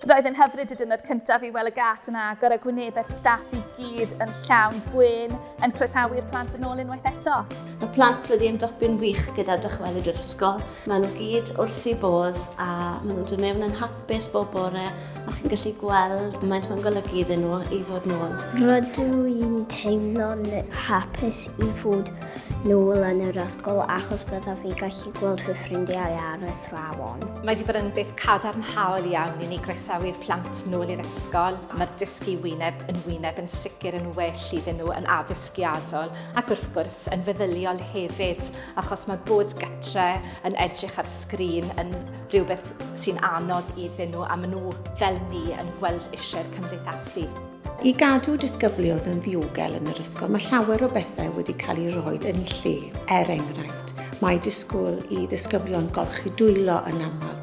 Roedd yn hyfryd y diwrnod cyntaf i weld y gât yn agor a gwynebau'r staff i gyd yn llawn gwyn yn croesawu'r plant yn ôl unwaith eto. Mae plant wedi ymdopi'n wych gyda dychwelyd i'r ysgol. Mae nhw gyd wrth i bodd a maen nhw'n dod mewn yn hapus bob bore a chi'n gallu gweld mae'n nhw'n golygu iddyn nhw i ddod nôl. Rydw i'n teimlo'n hapus i fod nôl yn yr ysgol achos byddaf fi gallu gweld fy ffrindiau arall. athrawon. Mae wedi bod yn beth cadarnhaol iawn i ni groesawu'r plant nôl i'r ysgol. Mae'r dysgu wyneb yn wyneb yn sicr yn well iddyn nhw yn addysgiadol ac wrth gwrs yn feddyliol hefyd achos mae bod gytre yn edrych ar sgrin yn rhywbeth sy'n anodd iddyn nhw a maen nhw fel ni yn gweld eisiau'r cymdeithasu. I gadw disgyblion yn ddiogel yn yr ysgol, mae llawer o bethau wedi cael ei roi yn ei lle. Er enghraifft, mae disgwyl i ddisgyblion golchi dwylo yn aml.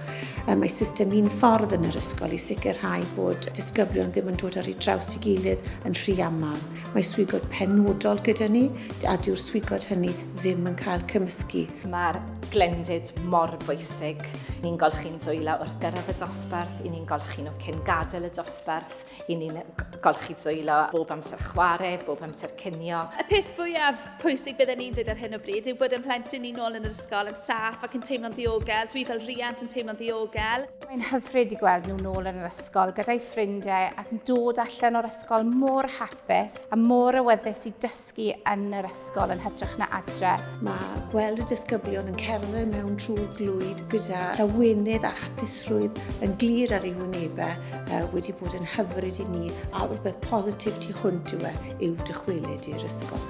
Mae system un ffordd yn yr ysgol i sicrhau bod disgyblion ddim yn dod ar ei draws i gilydd yn rhy aml. Mae swigod penodol gyda ni, a dyw'r swigod hynny ddim yn cael cymysgu. Mae'r glendid mor bwysig. Ni'n golchi'n dwylo wrth gyrraedd y dosbarth, i ni'n golchi nhw cyn gadael y dosbarth. I ni'n golchi dwylo bob amser chwarae, bob amser cinio. Y peth fwyaf pwysig bydden ni'n dweud ar hyn o bryd yw bod yn plentyn ni nôl yn yr ysgol yn saff ac yn teimlo'n ddiogel. Dwi fel rhiant yn teimlo'n ddiogel. Mae'n hyfryd i gweld nhw nôl yn yr ysgol gyda'i ffrindiau ac yn dod allan o'r ysgol mor hapus a mor awyddus i dysgu dysgu yn yr ysgol yn hytrach na adre. Mae gweld y disgyblion yn cerdded mewn trwy'r glwyd gyda llawenydd a hapusrwydd yn glir ar ei wynebau uh, wedi bod yn hyfryd i ni a rhywbeth positif tu hwnt yw, e, yw dychwelyd i'r ysgol.